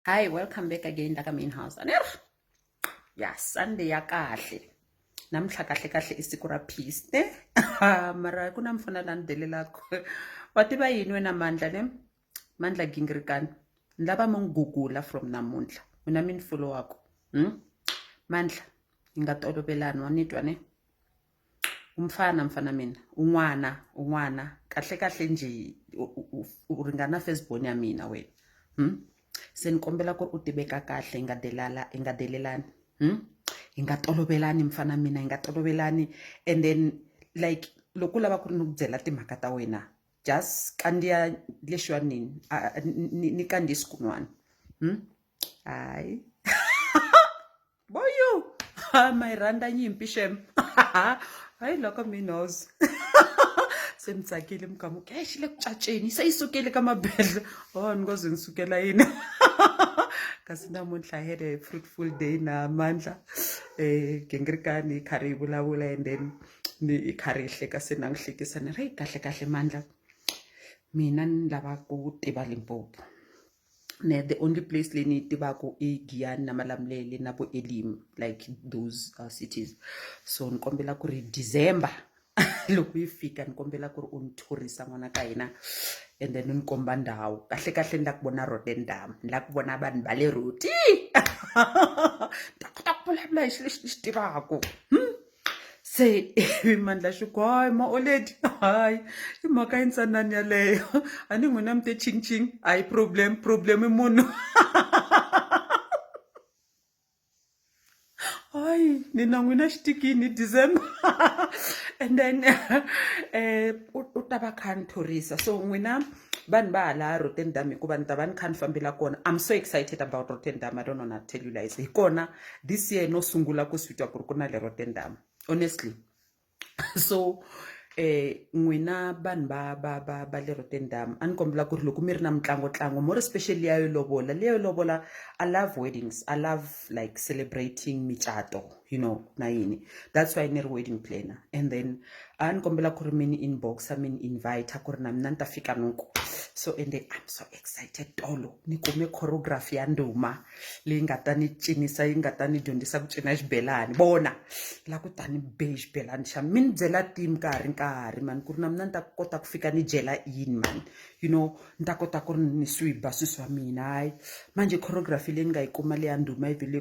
hi welcome back again la ka main house ani ri ya sunday ya kahle namuntlha kahle kahle i siku ra peace ne mara ku na mfana la ni delelaka wa tiva yini wena mandla ne mandla gingirikani ni lava mi n'wi gugula from namuntlha mina mi ni folowaka hmm? mandla yi nga tolovelani wa ni twa ne u mfana mfana mina u n'wana u n'wana kahle kahle njhe u ringana first born ya mina wena se ni kombela ku ri u tiveka kahle hi nga delala hi nga delelani hi nga tolovelani mfana mina hi nga tolovelani and then like loko u lava ku ri ni ku byela timhaka ta wena just kandziya lexiwani ni kandziyi swikun'wana hayi. boyu ha ma yi rhandza nyimpi xem hayi loko mi knows se mi tsakile mi kamu ke xi le ku caceni se yi sukile ka mabedla o oh, ni ngo ze ni sukela yini kasi namuntlha had a fruitful day na mandla um gingirikani yi karhi yi vulavula and then ni yi karhi yi hleka se na n'wi hlekisa ni ri kahle kahle mandla mina ni lava ku tiva limpopo ne the only place leyi ni yi tivaka i giyani na malamulele na vo elim like those uh, cities so ni kombela ku ri december loko yi fika ni kombela ku ri u ni thorisa n'wana ka hina and then ni komba ndhawu kahle kahle ni la ku vona rotendam ni la ku vona vanhu va le roti ta kota ku vulavula hi xi lexi ni xi tivaka hmm? se mandla xiku hayi maoledi hayi i mhaka yintsanani yaleyo a ni n'wina mi te chingching a hi problem problem i munhu hayi ni na n'wina xitikini december and then um u ta va kha ni thorisa so n'wina vanhu va hala rotterdam hikuva ni ta va ni kha ni fambela kona i'm so excited about rotterdam i don't wanna tell you lies hi kona this year no sungula ku swi twa ku ri ku na le rotterdam honestly so eh n'wina vanhu va ba ba ba le rotterdam a ni kombela ku ri loko mi ri na mitlangotlango more especially ya yo lovola leyo lovola i love weddings i love like celebrating micato you know na yini that's why ni ri wedding planner and then a ni kombela ku ri mi ni inboxa mi ni invite ku ri na mina ni ta fika noko so ende i'm so excited tolo ni kume choreography ya nduma leyi nga ta ni cinisa yi nga ta ni dyondzisa ku cina xibelani vona la ku ta ni be xibelani xa mi ni byela tim ka ha ri nkarhi mani ku ri na mina ni ta kota ku fika ni dyela yini mani you know ni ta kota ku ri ni swiba swi swa mina hayi manje choreography leyi ni nga yi kuma leya nduma yi vile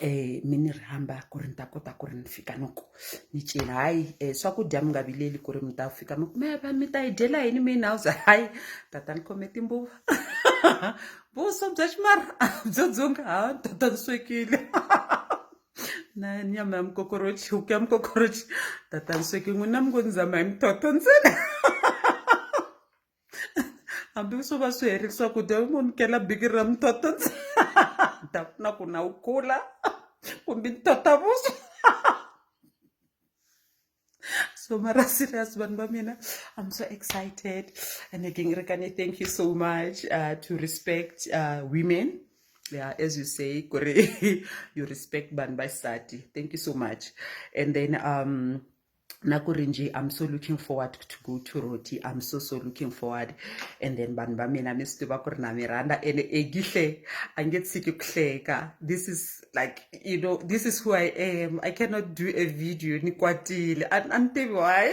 eh mi ni rhamba ku ri ni ta kota ku ri ni fika ni ku ni cela hayi um eh, swakudya mi nga vileli ku ri mi ta fika mi ku mi va mi ta yi dyela yini main house hayi tata ni khome timbuva vuswa bya ximara byo dzunga ha tata ni swekile na nyama ya mikokorochi huku ya mikokorochi tata ni swekile n'wina mi ngo ni zama hi mithotho ntsena hambi swo va swi herile swakudya u nyikela biki ra mutota ta pfuna ku na wu kula kumbe mutota vuswa so mara serious vanhu va mina i'm so excited and again rekane thank you so much uh, to respect uh, women yeah as you say kuri you respect vanhu vaxisati thank you so much and then um nakuri nje i'm so looking forward to go to roti i'm so so looking forward and then vanhu va mina mi swi tiva ku ri na mi rhandza ene egihle a nge tshiki ku hleka this is like you know this is who i am i cannot do a video ni kwatile a ni tivi why